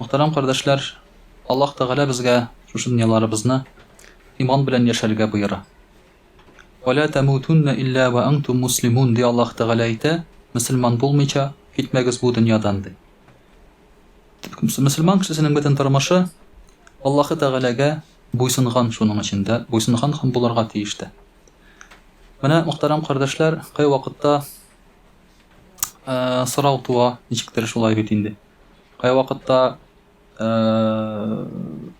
Мөхтәрәм кардәшләр, Аллаһ Тәгалә безгә шушы дөньяларыбызны иман белән яшәргә боера. Вә лә тәмүтүннә илля вә антум муслимун, ди Аллаһ Тәгалә әйтә, мөселман булмыйча китмәгез бу дөньядан, ди. Мөселман кешесенең бөтен тормышы Аллаһы Тәгаләгә буйсынган шуның өчен дә, буйсынган һәм булырга тиеш тә. Менә, мөхтәрәм кардәшләр, кайвакытта Ә, сорау туа, ничектер шулай бит инде. Кай вакытта, ә,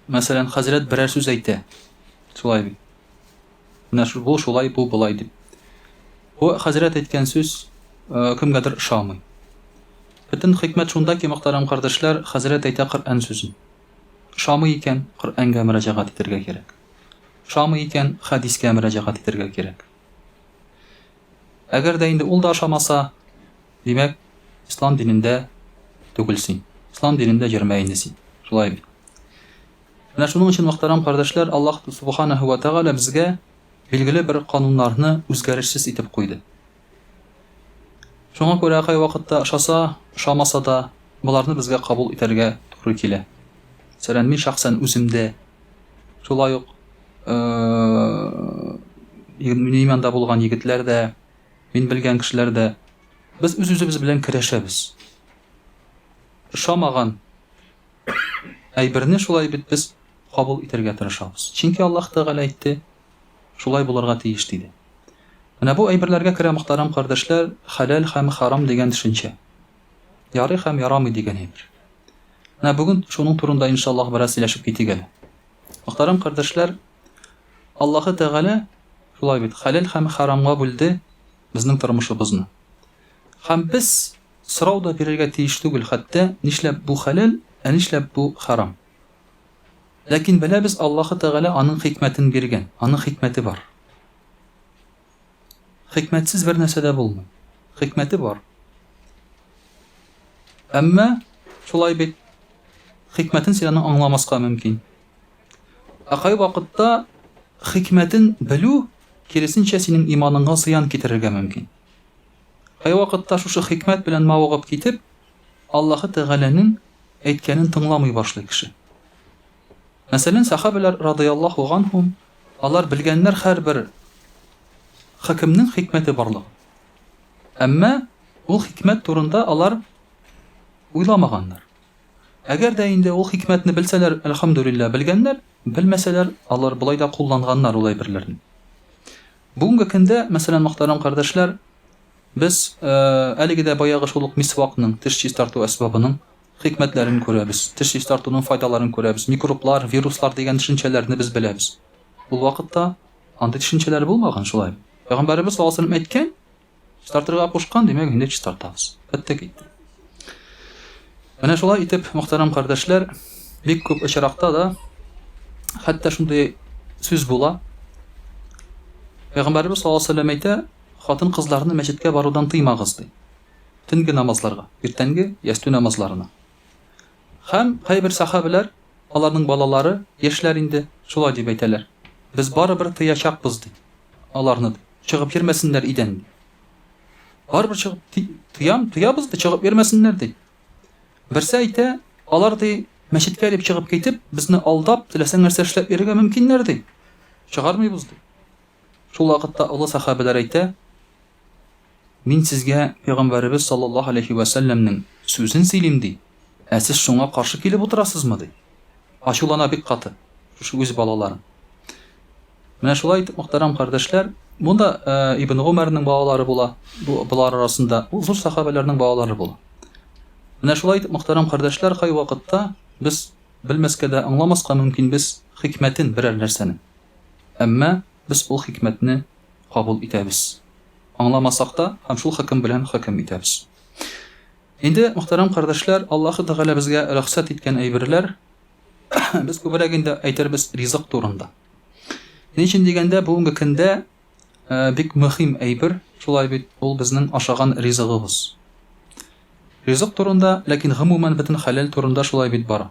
мәсәлән, хәзрәт берәр сүз әйтә. Шулай бит. Менә шу- бу шулай, бу болай дип. Бу хәзрәт әйткән сүз ә, кемгәдер ошамый. Бөтен хикмәт шунда ки, мөхтәрәм кардәшләр, хәзрәт әйтә Коръән сүзен. Ошамый икән, Коръәнгә мөрәҗәгать итәргә кирәк. Ошамый икән, хәдискә мөрәҗәгать итәргә кирәк. Әгәр дә инде ул да ошамаса, димәк, ислам динендә түгел син. Ислам динендә йөрмә инде син. Шулай бит. Менә шуның өчен, мөхтәрәм кардәшләр, Аллаһ Субханаһу ва Тәгалә безгә билгеле бер кануннарны үзгәрешсез итеп куйды. Шуңа күрә кайвакытта ошаса, ошамаса да, боларны безгә кабул итәргә туры килә. Мәсәлән, мин шәхсән үземдә Шулай ук минем янда булган егетләр дә, мин белгән кешеләр дә без үз-үзебез белән көрәшәбез. Ошамаган әйберне шулай бит без кабул итәргә тырышабыз. Чөнки Аллаһ Тәгалә әйтте, шулай булырга тиеш диде. Менә бу әйберләргә керә мөхтәрәм кардәшләр, хәләл һәм харам дигән төшенчә. Ярый һәм ярамый дигән әйбер. Менә бүген шуның турында, иншаллаһ, бераз сөйләшеп китик әле. Мөхтәрәм кардәшләр, Аллаһы Тәгалә шулай бит, хәләл һәм харамга бүлде безнең тормышыбызны. Һәм без сорау да бирергә тиеш түгел, хәтта нишләп бу хәләл, ә нишләп бу харам? Ләкин беләбез, Аллаһы Тәгалә аның хикмәтен биргән, аның хикмәте бар. Хикмәтсез бер нәрсә дә булмый. Хикмәте бар. Әмма шулай бит хикмәтен син аны аңламаска мөмкин. Ә кай вакытта хикмәтен белү киресенчә синең иманыңа зыян китерергә мөмкин. Кай вакытта шушы хикмәт белән мавыгып китеп, Аллаһы Тәгаләнең әйткәнен тыңламый башлый кеше. Мәсәлән, сәхабәләр, радыяллаһу ганһум, алар белгәннәр һәрбер хөкемнең хикмәте барлыгын. Әмма ул хикмәт турында алар уйламаганнар. Әгәр дә инде ул хикмәтне белсәләр, әлхәмдүлилләһ, белгәннәр, белмәсәләр, алар болай да кулланганнар ул әйберләрне. Бүгенге көндә, мәсәлән, мөхтәрәм кардәшләр, без әлеге дә баягы шул ук мисвакның, теш чистарту әсбабының Хикмәтләрен күрәбез. Теш чистартуның файдаларын күрәбез. Микроблар, вируслар дигән төшенчәләрне без беләбез. Ул вакытта андый төшенчәләр булмаган, шулаймы? Пәйгамбәребез саллаллаһу галәйһи ва сәлләм әйткән, Чистартырга кушкан, димәк, инде чистартабыз. Бетте, китте. Менә шулай итеп, мөхтәрәм кардәшләр, бик күп очракта да хәтта шундый сүз була. Пәйгамбәребез саллаллаһу галәйһи ва сәлләм әйтә, хатын-кызларны мәчеткә барудан тыймагыз, ди. төнге намазларга, иртәнге ястү намазларына. Һәм кайбер сәхабәләр, аларның балалары, яшьләр инде, шулай дип әйтәләр, Без барыбер тыячакбыз, ди, аларны, ди, чыгып йөрмәсеннәр идән, ди. Барыбер чыгып ти, тыям, тыябыз, ди, чыгып йөрмәсеннәр, ди. Берсе әйтә, алар, ди, мәчеткә дип чыгып китеп, безне алдап, теләсәң нәрсә эшләп йөрергә мөмкиннәр, ди. Чыгармыйбыз, ди. Шул вакытта олы сәхабәләр әйтә, Мин сезгә пәйгамбәребез саллаллаһу галәйһи вә сәлләмнең сүзен сөйлим, ди, ә сез шуңа каршы килеп утырасызмы? ди. Ачулана бик каты, шушы үз балаларын. Менә шулай итеп, мөхтәрәм кардәшләр, монда э, Ибн Гомәрнең балалары була, бу болар арасында ул зур сахабәләрнең балалары була. Менә шулай итеп, мөхтәрәм кардәшләр, кай вакытта без белмәскә дә, аңламаска мөмкин без хикмәтен берәр нәрсәнең. Әмма без ул хикмәтне кабул итәбез. Аңламасак та, һәм шул хөкем белән хөкем итәбез. Инде, мөхтәрәм кардәшләр, Аллаһы Тәгалә безгә рөхсәт иткән әйберләр, без күбрәк инде әйтербез ризык турында. Ни өчен дигәндә, бүгенге көндә э, бик мөһим әйбер, шулай бит, ул безнең ашаган ризыгыбыз. Ризык турында, ләкин гомумән бөтен хәләл турында шулай бит бара.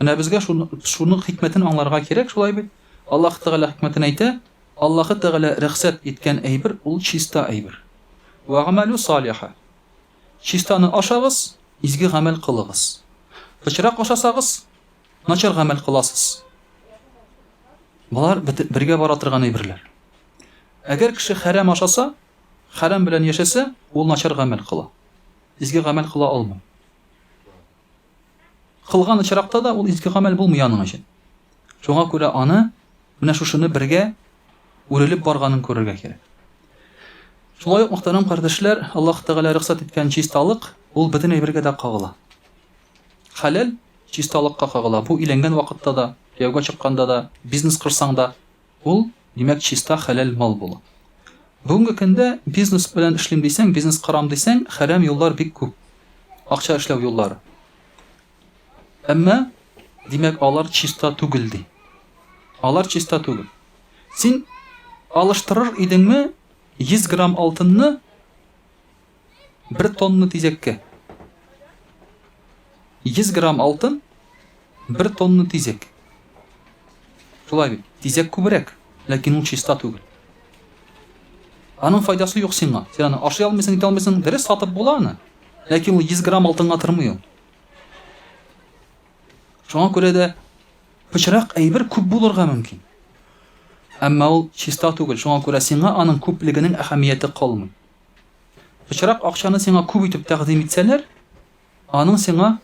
Менә безгә шуның хикмәтен аңларга кирәк, шулай бит? Аллаһ Тәгалә хикмәтен әйтә, Аллаһы Тәгалә рөхсәт иткән әйбер, ул чиста әйбер. Вәгамәлү салиха. Чистаны ашагыз, изге гамәл кылыгыз. Пычрак ашасагыз, начар гамәл кыласыз. Болар бергә бара торган әйберләр. Әгәр кеше хәрам ашаса, хәрам белән яшәсә, ул начар гамәл кыла. Изге гамәл кыла алмый. Кылган очракта да ул изге гамәл булмый аның өчен. Шуңа күрә аны менә шушыны бергә үрелеп барганын күрергә кирәк. Шулай ук, мөхтәрәм кардәшләр, Аллаһ Тәгалә рөхсәт иткән чисталык, ул бөтен әйбергә дә кагыла. Хәләл чисталыкка кагыла. Бу өйләнгән вакытта да, кияүгә чыкканда да, бизнес корсаң да, Ул, димәк, чиста хәләл мал була. Бүгенге көндә бизнес белән эшлим дисәң, бизнес корам дисәң, хәрәм юллар бик күп. Акча эшләү юллары. Әмма, димәк, алар чиста түгел, ди. Алар чиста түгел. Син алыштырыр идеңме 100 грамм алтынны Бер тонна тизәккә. 100 грамм алтын, бер тонна тизәк. Шулай бит, тизәк күбрәк, ләкин ул чиста түгел. Аның файдасы юк сиңа. Син аны ашый алмыйсың, итә алмыйсың. Дөрес сатып була аны. Ләкин ул 100 грамм алтынга тормый ул. Шуңа күрә дә пычрак әйбер күп булырга мөмкин. Әмма ул чиста түгел, шуңа күрә сиңа аның күплегенең әһәмияте калмый. Пычрак акчаны сиңа күп итеп тәкъдим итсәләр, аның сиңа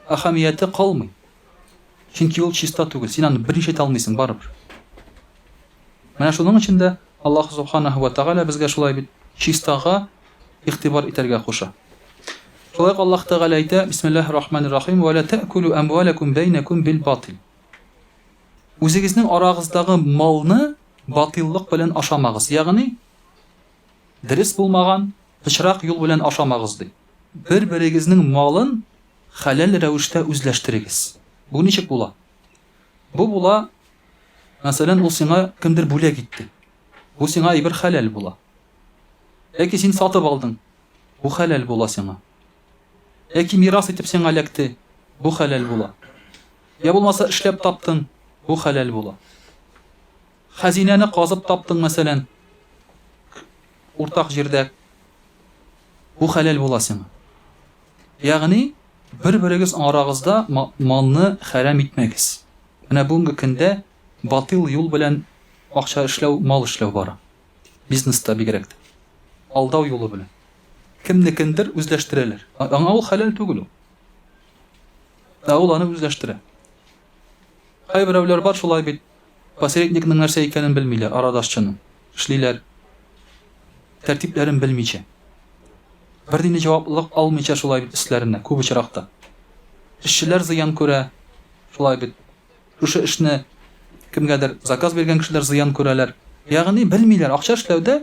әһәмияте калмый. Чөнки ул чиста түгел, син аны берничә итә алмыйсың барыбер. Менә шуның өчен дә Аллаһ субханаһу ва тәгалә безгә шулай бит чистага игътибар итәргә куша. Шулай Аллаһ Тәгалә әйтә, Бисмиллаһир рахманир рахим, ва ла та'кулу амвалакум бәйнәкум бил батил. Үзегезнең арагыздагы малны батиллык белән ашамагыз. Ягъни Дөрес булмаган пычрак юл белән ашамагыз, ди. Бер-берегезнең малын хәләл рәвештә үзләштерегез. Бу ничек була? Бу була, мәсәлән, ул сиңа кемдер бүләк итте. Бу сиңа әйбер хәләл була. Яки син сатып алдың, бу хәләл була сиңа. Яки мирас итеп сиңа эләкте, бу хәләл була. Я булмаса эшләп таптың, бу хәләл була. Хәзинәне казып таптың, мәсәлән, уртак җирдә. Бу хәләл була сиңа. Ягъни, бер-берегез арагызда малны хәрам итмәгез. Менә бүгенге көндә батил юл белән акча эшләү, мал эшләү бара. Бизнеста бигрәк тә. Алдау юлы белән. Кемнекендер үзләштерәләр. Аңа ул хәләл түгел ул. Ә ул аны үзләштерә. Кайберәүләр бар шулай бит. Посредникның нәрсә икәнен белмиләр, арадашчының. Эшлиләр. Тәртипләрен белмичә. Бернинди җаваплылык алмыйча шулай бит өсләренә, күп очракта. Эшчеләр зыян күрә, шулай бит. Шушы эшне кемгәдер заказ биргән кешеләр зыян күрәләр. Ягъни белмиләр, акча эшләүдә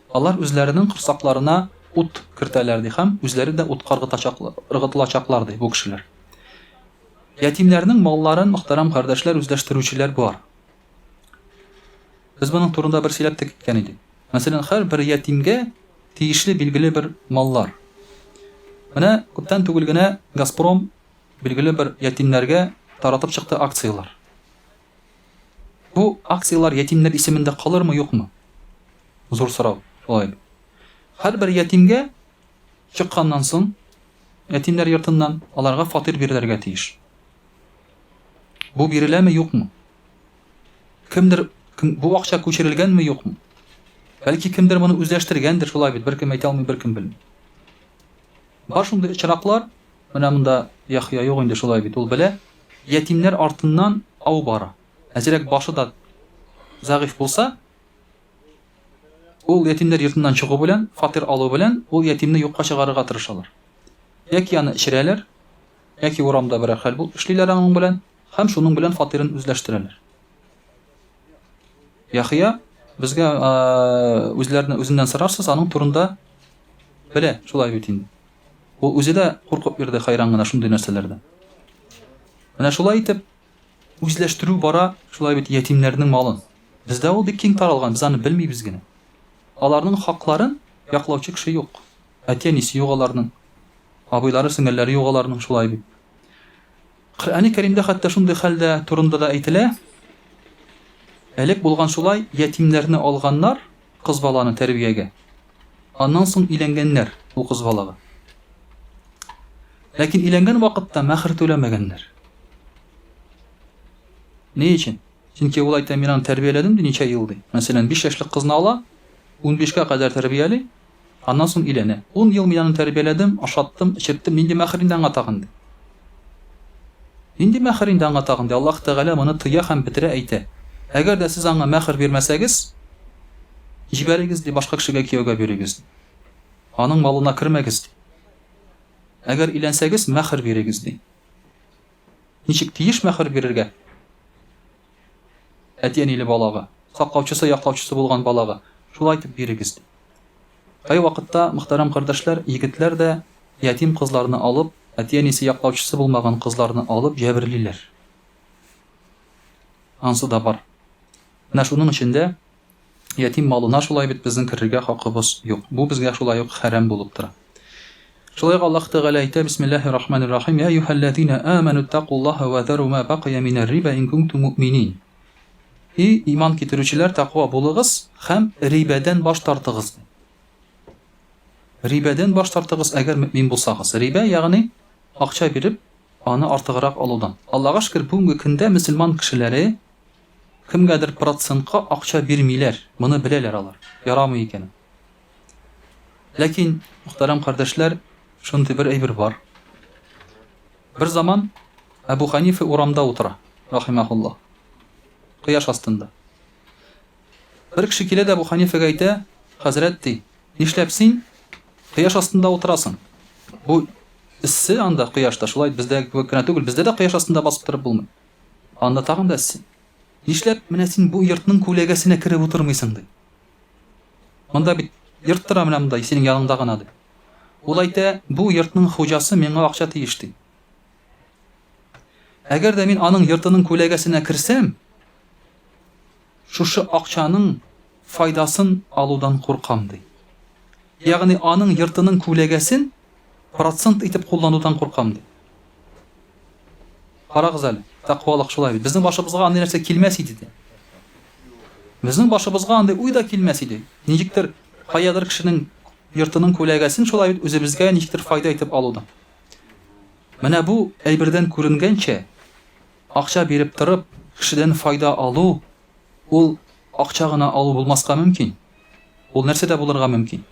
Алар үзләренең корсакларына ут кертәләр, ди, һәм үзләре дә утка ыргытылачаклар, ди, бу кешеләр. Ятимнәрнең малларын, мөхтәрәм кардәшләр, үзләштерүчеләр бар. Без моның турында бер сөйләп тә киткән идек. Мәсәлән, һәрбер ятимгә тиешле билгеле бер маллар. Менә күптән түгел генә Газпром билгеле бер ятимнәргә таратып чыкты акцияләр. Бу акцияләр ятимнәр исемендә калырмы, юкмы? Зур сорау, шулай бит. Һәрбер ятимгә чыкканнан соң, ятимнәр йортыннан аларга фатир бирелергә тиеш. Бу биреләме, юкмы? Кемдер кем, бу акча күчерелгәнме, юкмы? Бәлки кемдер моны үзләштергәндер, шулай бит, беркем әйтә алмый, беркем белми. Бар шундый очраклар, Менә монда Яхъя юк инде, шулай бит, ул белә. Ятимнәр артыннан ау бара. Әзрәк башы да зәгыйфь булса, ул ятимнәр йортыннан чыгу белән, фатир алу белән, ул ятимне юкка чыгарырга тырышалар. Яки аны эчерәләр, яки урамда берәр хәл бул эшлиләр аның белән һәм шуның белән фатирын үзләштерәләр. Яхъя безгә үзләренә үзеннән сорарсыз, аның турында белә, шулай бит инде. Ул үзе дә куркып йөрде хәйран гына шундый нәрсәләрдән. Менә шулай итеп, үзләштерү бара, шулай бит ятимнәрнең малын. Бездә ул бик киң таралган, без аны белмибез генә. Аларның хакларын яклаучы кеше юк. Әти-әнисе юк аларның. Абыйлары, сеңелләре юк аларның, шулай бит. Коръәни Кәримдә хәтта шундый хәл дә турында да әйтелә, Элек булган шулай, ятимнәрне алганнар, кыз баланы, тәрбиягә. Аннан соң өйләнгәннәр, ул кыз балага. Ләкин өйләнгән вакытта мәхер түләмәгәннәр. Ни өчен? Чөнки ул әйтә, мин аны тәрбияләдем, ди, ничә ел, ди. Мәсәлән, 5 яшьлек кызны ала, 15 кә кадәр тәрбияли, Аннан соң өйләнә. Ун ел мин аны тәрбияләдем, ашаттым, эчерттем, нинди мәхер инде аңа тагын? ди. Нинди мәхер инде аңа тагын? ди. Аллаһ Тәгалә моны тыя һәм бетерә, әйтә, Әгәр дә сез аңа мәхер бирмәсәгез, җибәрегез, ди, башка кешегә кияүгә бирегез, ди. Аның малына кермәгез, ди. Әгәр өйләнсәгез, мәхер бирегез, ди. Ничек тиеш мәхер бирергә? Әти-әниле балага, саклаучысы, яклаучысы булган балага шулай итеп бирегез, ди. Кайвакытта, мөхтәрәм кардәшләр, егетләр дә ятим кызларны алып, әти-әнисе, яклаучысы булмаган кызларны алып җәберлиләр. Ансы да бар. Менә шуның өчен дә Ятим малына шулай бит безнең керергә хакыбыз юк. Бу безгә шулай ук хәрам булып тора. Шулай ук Аллаһ Тәгалә әйтә, Бисмиллаһир рахманир рахим, Йә юһәлләзина аману тәкуллаһа вә зару ма бакия минәр риба ин кунтум муъминин. И иман китерүчеләр, тәква булыгыз һәм рибәдән баш тартыгыз. Рибәдән баш тартыгыз, әгәр мөмин булсагыз. Рибә, ягъни акча биреп, аны артыграк алудан. Аллага шөкер, бүгенге көндә мөселман кешеләре Кемгәдер процентка акча бирмиләр, моны беләләр алар, ярамый икән ул. Ләкин, мөхтәрәм кардәшләр, шундый бер әйбер бар. Бер заман Әбу Ханифа урамда утыра, рахимаһулла, кояш астында. Бер кеше килә дә Әбу Ханифага әйтә, Хәзрәт, ди, нишләп син кояш астында утырасың? Бу эссе анда кояшта, шулай бездәге кебек кенә түгел, бездә дә кояш астында басып торып булмый. Анда тагын да син. Нишләп менә син бу йортның күләгәсенә кереп утырмыйсың, ди. Монда бит йорт тора менә монда, синең яныңда гына, ди. Ул әйтә, бу йортның хуҗасы миңа акча тиеш, ди. Әгәр дә мин аның йортының күләгәсенә керсәм, Шушы акчаның файдасын алудан куркам, ди. Ягъни аның йортының күләгәсен процент итеп кулланудан куркам, ди. Карагыз әле, тәкъвалык шулай бит. Безнең башыбызга андый нәрсә килмәс иде, ди. Безнең башыбызга андый уй да килмәс иде. Ничектер каядыр кешенең йортының күләгәсен шулай бит үзебезгә ничектер файда итеп алудан. Менә бу әйбердән күренгәнчә, Акча биреп торып, кешедән файда алу, ул акча гына алу булмаска мөмкин. Ул нәрсә дә булырга мөмкин.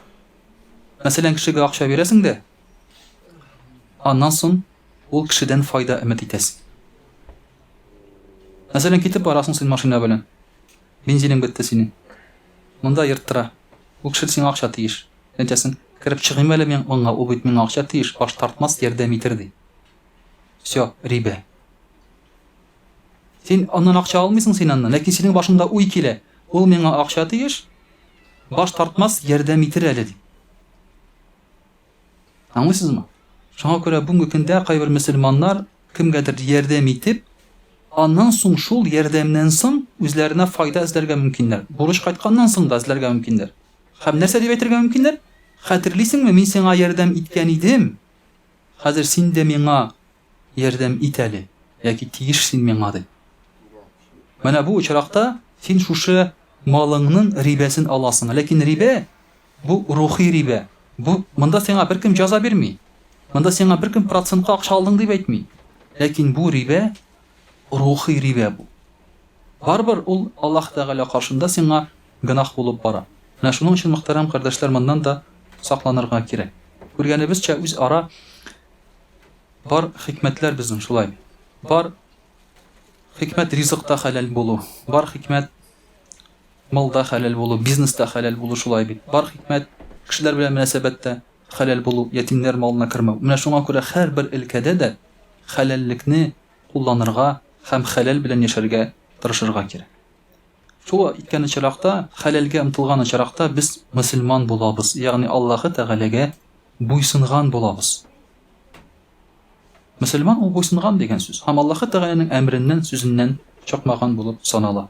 Мәсәлән, кешегә акча бирәсең дә, аннан соң ул кешедән файда өмет итәсең. Мәсәлән, китеп барасың син машина белән. Бензиның бетте синең. Монда ерттыра. Ул кеше сиңа акча тиеш. Әйтәсең, кереп чыгыйм әле мин монга, ул бит миңа акча тиеш, баш тартмас, ярдәм итер, ди. Все, рибә. Син аннан акча алмыйсың син аннан, ләкин синең башыңда уй килә. Ул миңа акча тиеш, баш тартмас, ярдәм итер әле дип. Аңлыйсызмы? Шуңа күрә бүгенге көндә кайбер мөселманнар кемгәдер ярдәм итеп, аннан соң шул ярдәмнән соң үзләренә файда эзләргә мөмкиннәр. Бурыч кайтканнан соң да эзләргә мөмкиннәр. Һәм нәрсә дип әйтергә мөмкиннәр? Хәтерлисеңме, мин сиңа ярдәм иткән идем? Хәзер син дә миңа ярдәм ит әле, яки тиеш син миңа, ди. Менә бу очракта син шушы малыңның рибәсен аласың. Ләкин рибә, бу рухи рибә. Бу, монда сиңа беркем җәза бирми. Монда сиңа беркем процентка акча алдың дип әйтми. Ләкин бу рибә, рухи рибә бу. Барыбер ул Аллаһ Тәгалә каршында сиңа гөнаһ булып бара. Менә шуның өчен, мөхтәрәм кардәшләр, моннан да сакланырга кирәк. Күргәнебезчә, үз ара бар хикмәтләр безнең шулай. Бар хикмәт ризыкта хәләл булу, бар хикмәт малда хәләл булу, бизнеста хәләл булу шулай бит. Бар хикмәт кешеләр белән мөнәсәбәттә хәләл булу, ятимнәр малына кермәү. Менә шуңа күрә һәрбер өлкәдә дә хәләллекне кулланырга һәм хәләл белән яшәргә тырышырга кирәк. Шул иткән очракта, хәләлгә омтылган очракта без мөселман булабыз, ягъни Аллаһы Тәгаләгә буйсынган булабыз. Мөселман ул буйсынган дигән сүз һәм Аллаһы Тәгаләнең әмереннән, сүзеннән чыкмаган булып санала.